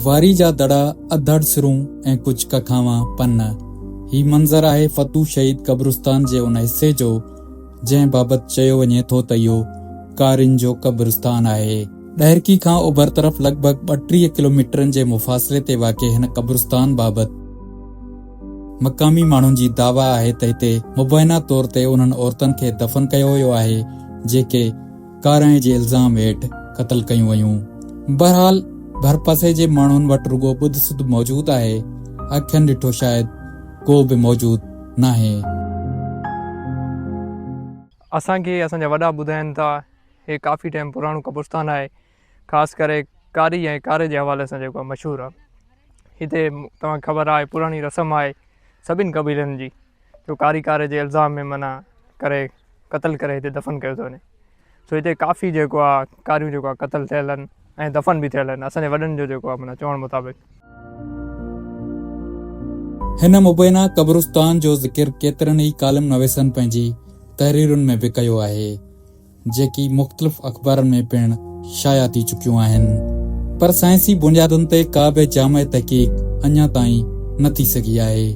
واري جا دڙا، اڌڙ سرون ۽ ڪجهه ڪکاوان پن. هي منظر آهي فتوح شهيد قبرستان جي ان حصي جو، جنهن بابت چيو وڃي ٿو ته اهو ڪارين جو قبرستان آهي. ڏهرڪي کان اوڀر طرف لڳ ڀڳ ٻٽيهه ڪلوميٽرن جي مفاصلي تي واقع هن قبرستان بابت، مقامي ماڻهن جي دعويٰ آهي ته هتي مبينا طور تي انهن عورتن کي دفن ڪيو ويو آهي، جيڪي ڪارائڻ جي الزام هيٺ قتل ڪيون ويون. بهرحال ڀرپاسي جي ماڻهن وٽ رڳو ٻڌ سڌ موجود آهي، اکين ڏٺو شايد ڪو به موجود ناهي. اسان کي اسان جا وڏا ٻڌائين ٿا هي ڪافي ٽائيم پراڻو قبرستان آهي. خاص ڪري ڪاري ۽ ڪاري جي حوالي سان جيڪو مشهور آهي هتي توهان کي خبر آهي پراڻي رسم آهي سڀني قبيلن جي جو ڪاري ڪاري جي الزام ۾ معنيٰ ڪري قتل ڪري هتي دفن ڪيو ٿو وڃي سو هتي ڪافي جيڪو آهي ڪاريون جيڪو آهي قتل ٿيل آهن ۽ دفن به ٿيل آهن اسان جي وڏن جو جيڪو آهي معنيٰ چوڻ مطابق هن مبينا قبرستان جو ذڪر ڪيترن ئي ڪالم نويسن پنهنجي تحريرن ۾ به ڪيو آهي. جيڪي مختلف اخبارن ۾ پڻ شايع ٿي چڪيون آهن، پر سائنسي بنيادن تي ڪا به جامع تحقيق اڃا تائين نه ٿي سگهي آهي.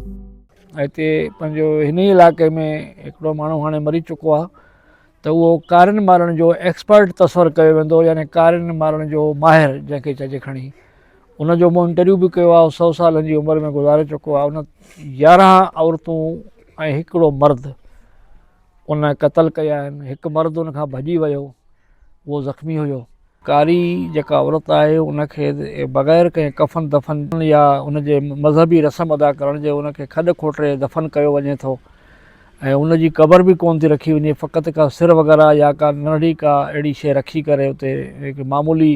هتي پنهنجو هن ئي علائقي ۾ هڪڙو ماڻهو هاڻي مري چڪو آهي ته اهو ڪارين مارڻ جو ايڪسپرٽ تصور ڪيو ويندو يعني ڪارين مارڻ جو ماهر جنهن کي چئجي کڻي ان جو مون انٽرويو به ڪيو آهي سو سالن جي عمر ۾ گذاري چڪو آهي ان يارهن عورتون ۽ هڪڙو مرد ان قتل ڪيائين. هڪ مرد ان کان ڀڄي ويو. اهو زخمي هيو. ڪاري جيڪا عورت آهي ان کي بغير ڪنهن ڪفن دفن يا ان جي مذهبي رسم ادا ڪرڻ جي ان کي کڏ کوٽري دفن ڪيو وڃي ٿو ۽ ان جي قبر به ڪونه ٿي رکي وڃي فقط ڪا سر وغيره يا ڪا ننڍڙي ڪا اهڙي شيء رکي ڪري اتي هڪ معمولي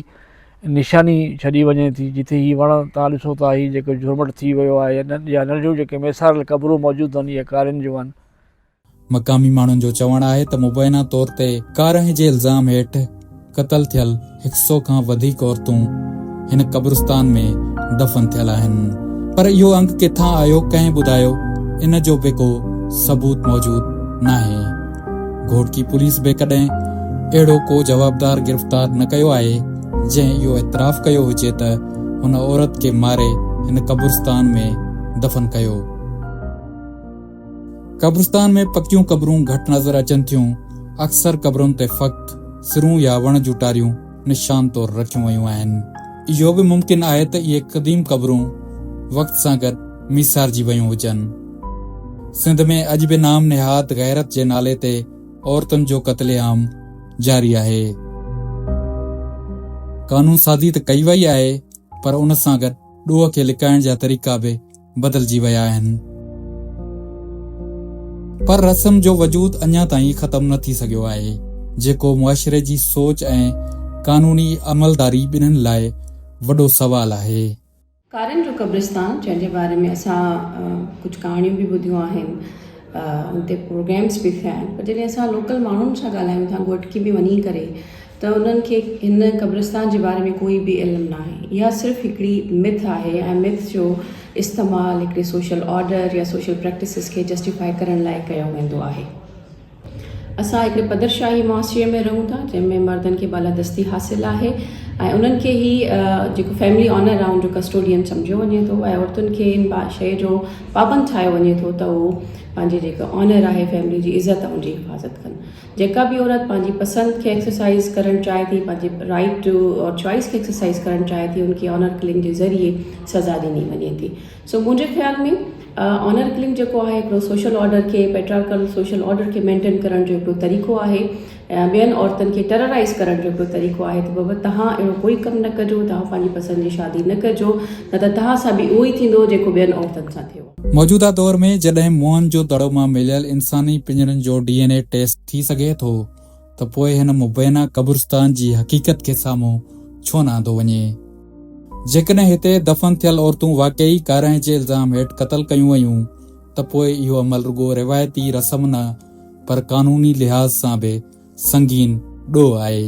نشاني ڇڏي وڃي ٿي جتي هي وڻ تان ڏسو ٿا هي جيڪو جهرمٽ ٿي ويو آهي يا ننڍيون جيڪي ميساريل قبرون موجود آهن اهي ڪارين جون آهن. مقامي ماڻهن جو چوڻ آهي ته مبينا طور تي ڪارنهن جي الزام هيٺ قتل ٿيل هڪ سئو کان وڌيڪ عورتون هن قبرستان ۾ دفن ٿيل آهن پر اهو انگ ڪٿان آيو ڪنهن ٻڌايو ان جو به ڪو ثبوت موجود ناهي گهوٽڪي پوليس به ڪڏهن اهڙو ڪو جوابدار گرفتار نه ڪيو آهي جنهن اهو اعتراف ڪيو هجي ته هن عورت کي ماري هن قبرستان ۾ دفن ڪيو قبرستان ۾ پڪيون قبرون گهٽ نظر اچن ٿيون، اڪثر قبرن تي فقط سرون يا وڻ جون ٽاريون نشان طور رکيون ويون آهن. اهو به ممڪن آهي ته اهي قديم قبرون وقت سان گڏ ميسارجي ويون هجن. سنڌ ۾ اڄ به نام نهاد غيرت جي نالي تي عورتن جو قتل عام جاري آهي. قانون سازي ته ڪئي وئي آهي پر ان سان گڏ ڏوهه کي لڪائڻ جا طريقا به بدلجي ويا آهن. پر رسم جو وجود اڃا تائين ختم نه ٿي سگهيو آهي، جيڪو معاشري جي سوچ ۽ قانوني عملداري ٻنهن لاء وڏو سوال آهي. ڪارن جو قبرستان جنهن جي باري ۾ اسان ڪجهه ڪهاڻيون به ٻڌيون آهن ان تي پروگرامس به ٿيا آهن پر جڏهن اسان لوڪل ماڻهن سان ڳالهايون ٿا گهوٽڪي ۾ وڃي ڪري ته انهن کي هن قبرستان جي باري ۾ ڪوئي به علم ناهي. اها صرف هڪڙي Myth آهي ۽ Myth جو استعمال هڪڙي سوشل آرڊر يا سوشل پريڪٽسز کي جسٽيفائي ڪرڻ لاء ڪيو ويندو آهي. اسان هڪڙي پدرشاهي معاشري ۾ رهون ٿا جنهن ۾ مردن کي بالادستي حاصل آهي ۽ انهن کي هي جيڪو فيملي آنر آهي ان جو ڪسٽوڊين سمجهيو وڃي ٿو ۽ عورتن کي ان شيء جو پابند ٺاهيو وڃي ٿو ته هو پنهنجي جيڪا آنر آهي فيملي جي عزت آهي ان جي حفاظت ڪن. جيڪا به عورت پنهنجي پسند کي ايڪسرسائيز ڪرڻ چاهي ٿي پنهنجي رائيٽ ٽو اور چوائيس کي ايڪسرسائيز ڪرڻ چاهي ٿي ان کي آنر ڪلنگ جي ذريعي سزا ڏني وڃي ٿي سو منهنجي خيال ۾ آنر ڪلنگ جيڪو آهي هڪڙو سوشل آرڊر کي پيٽرارڪل سوشل آرڊر کي مينٽين ڪرڻ جو هڪڙو طريقو آهي ٻين عورتن کي ٽيررائيز ڪرڻ جو هڪڙو طريقو آهي ته بابا تهان اهڙو ڪوئي ڪم نه ڪجو تهان پنهنجي پسند جي شادي نه ڪجو نه ته تهان سان به اهو ئي ٿيندو جيڪو ٻين عورتن سان ٿيو موجوده دور ۾ جڏهن موئن جو دڙو مان مليل انساني پڃرن جو ڊي اين اي ٽيسٽ ٿي سگهي ٿو ته پوء هن مبينا قبرستان جي حقيقت کي سامهون ڇو نه آندو وڃي؟ جيڪڏهن هتي دفن ٿيل عورتون واقعي ڪارنهن جي الزام هيٺ قتل ڪيون ويون ته پوء اهو عمل رڳو روايتي رسم نه پر قانوني لحاظ سان به سنگين ڏوهه آهي.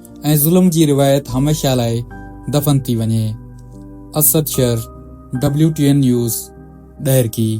۽ ظلم جي روايت هميشه لاء دفن ٿي وڃي. Asad Shar, W T N news, Daharki.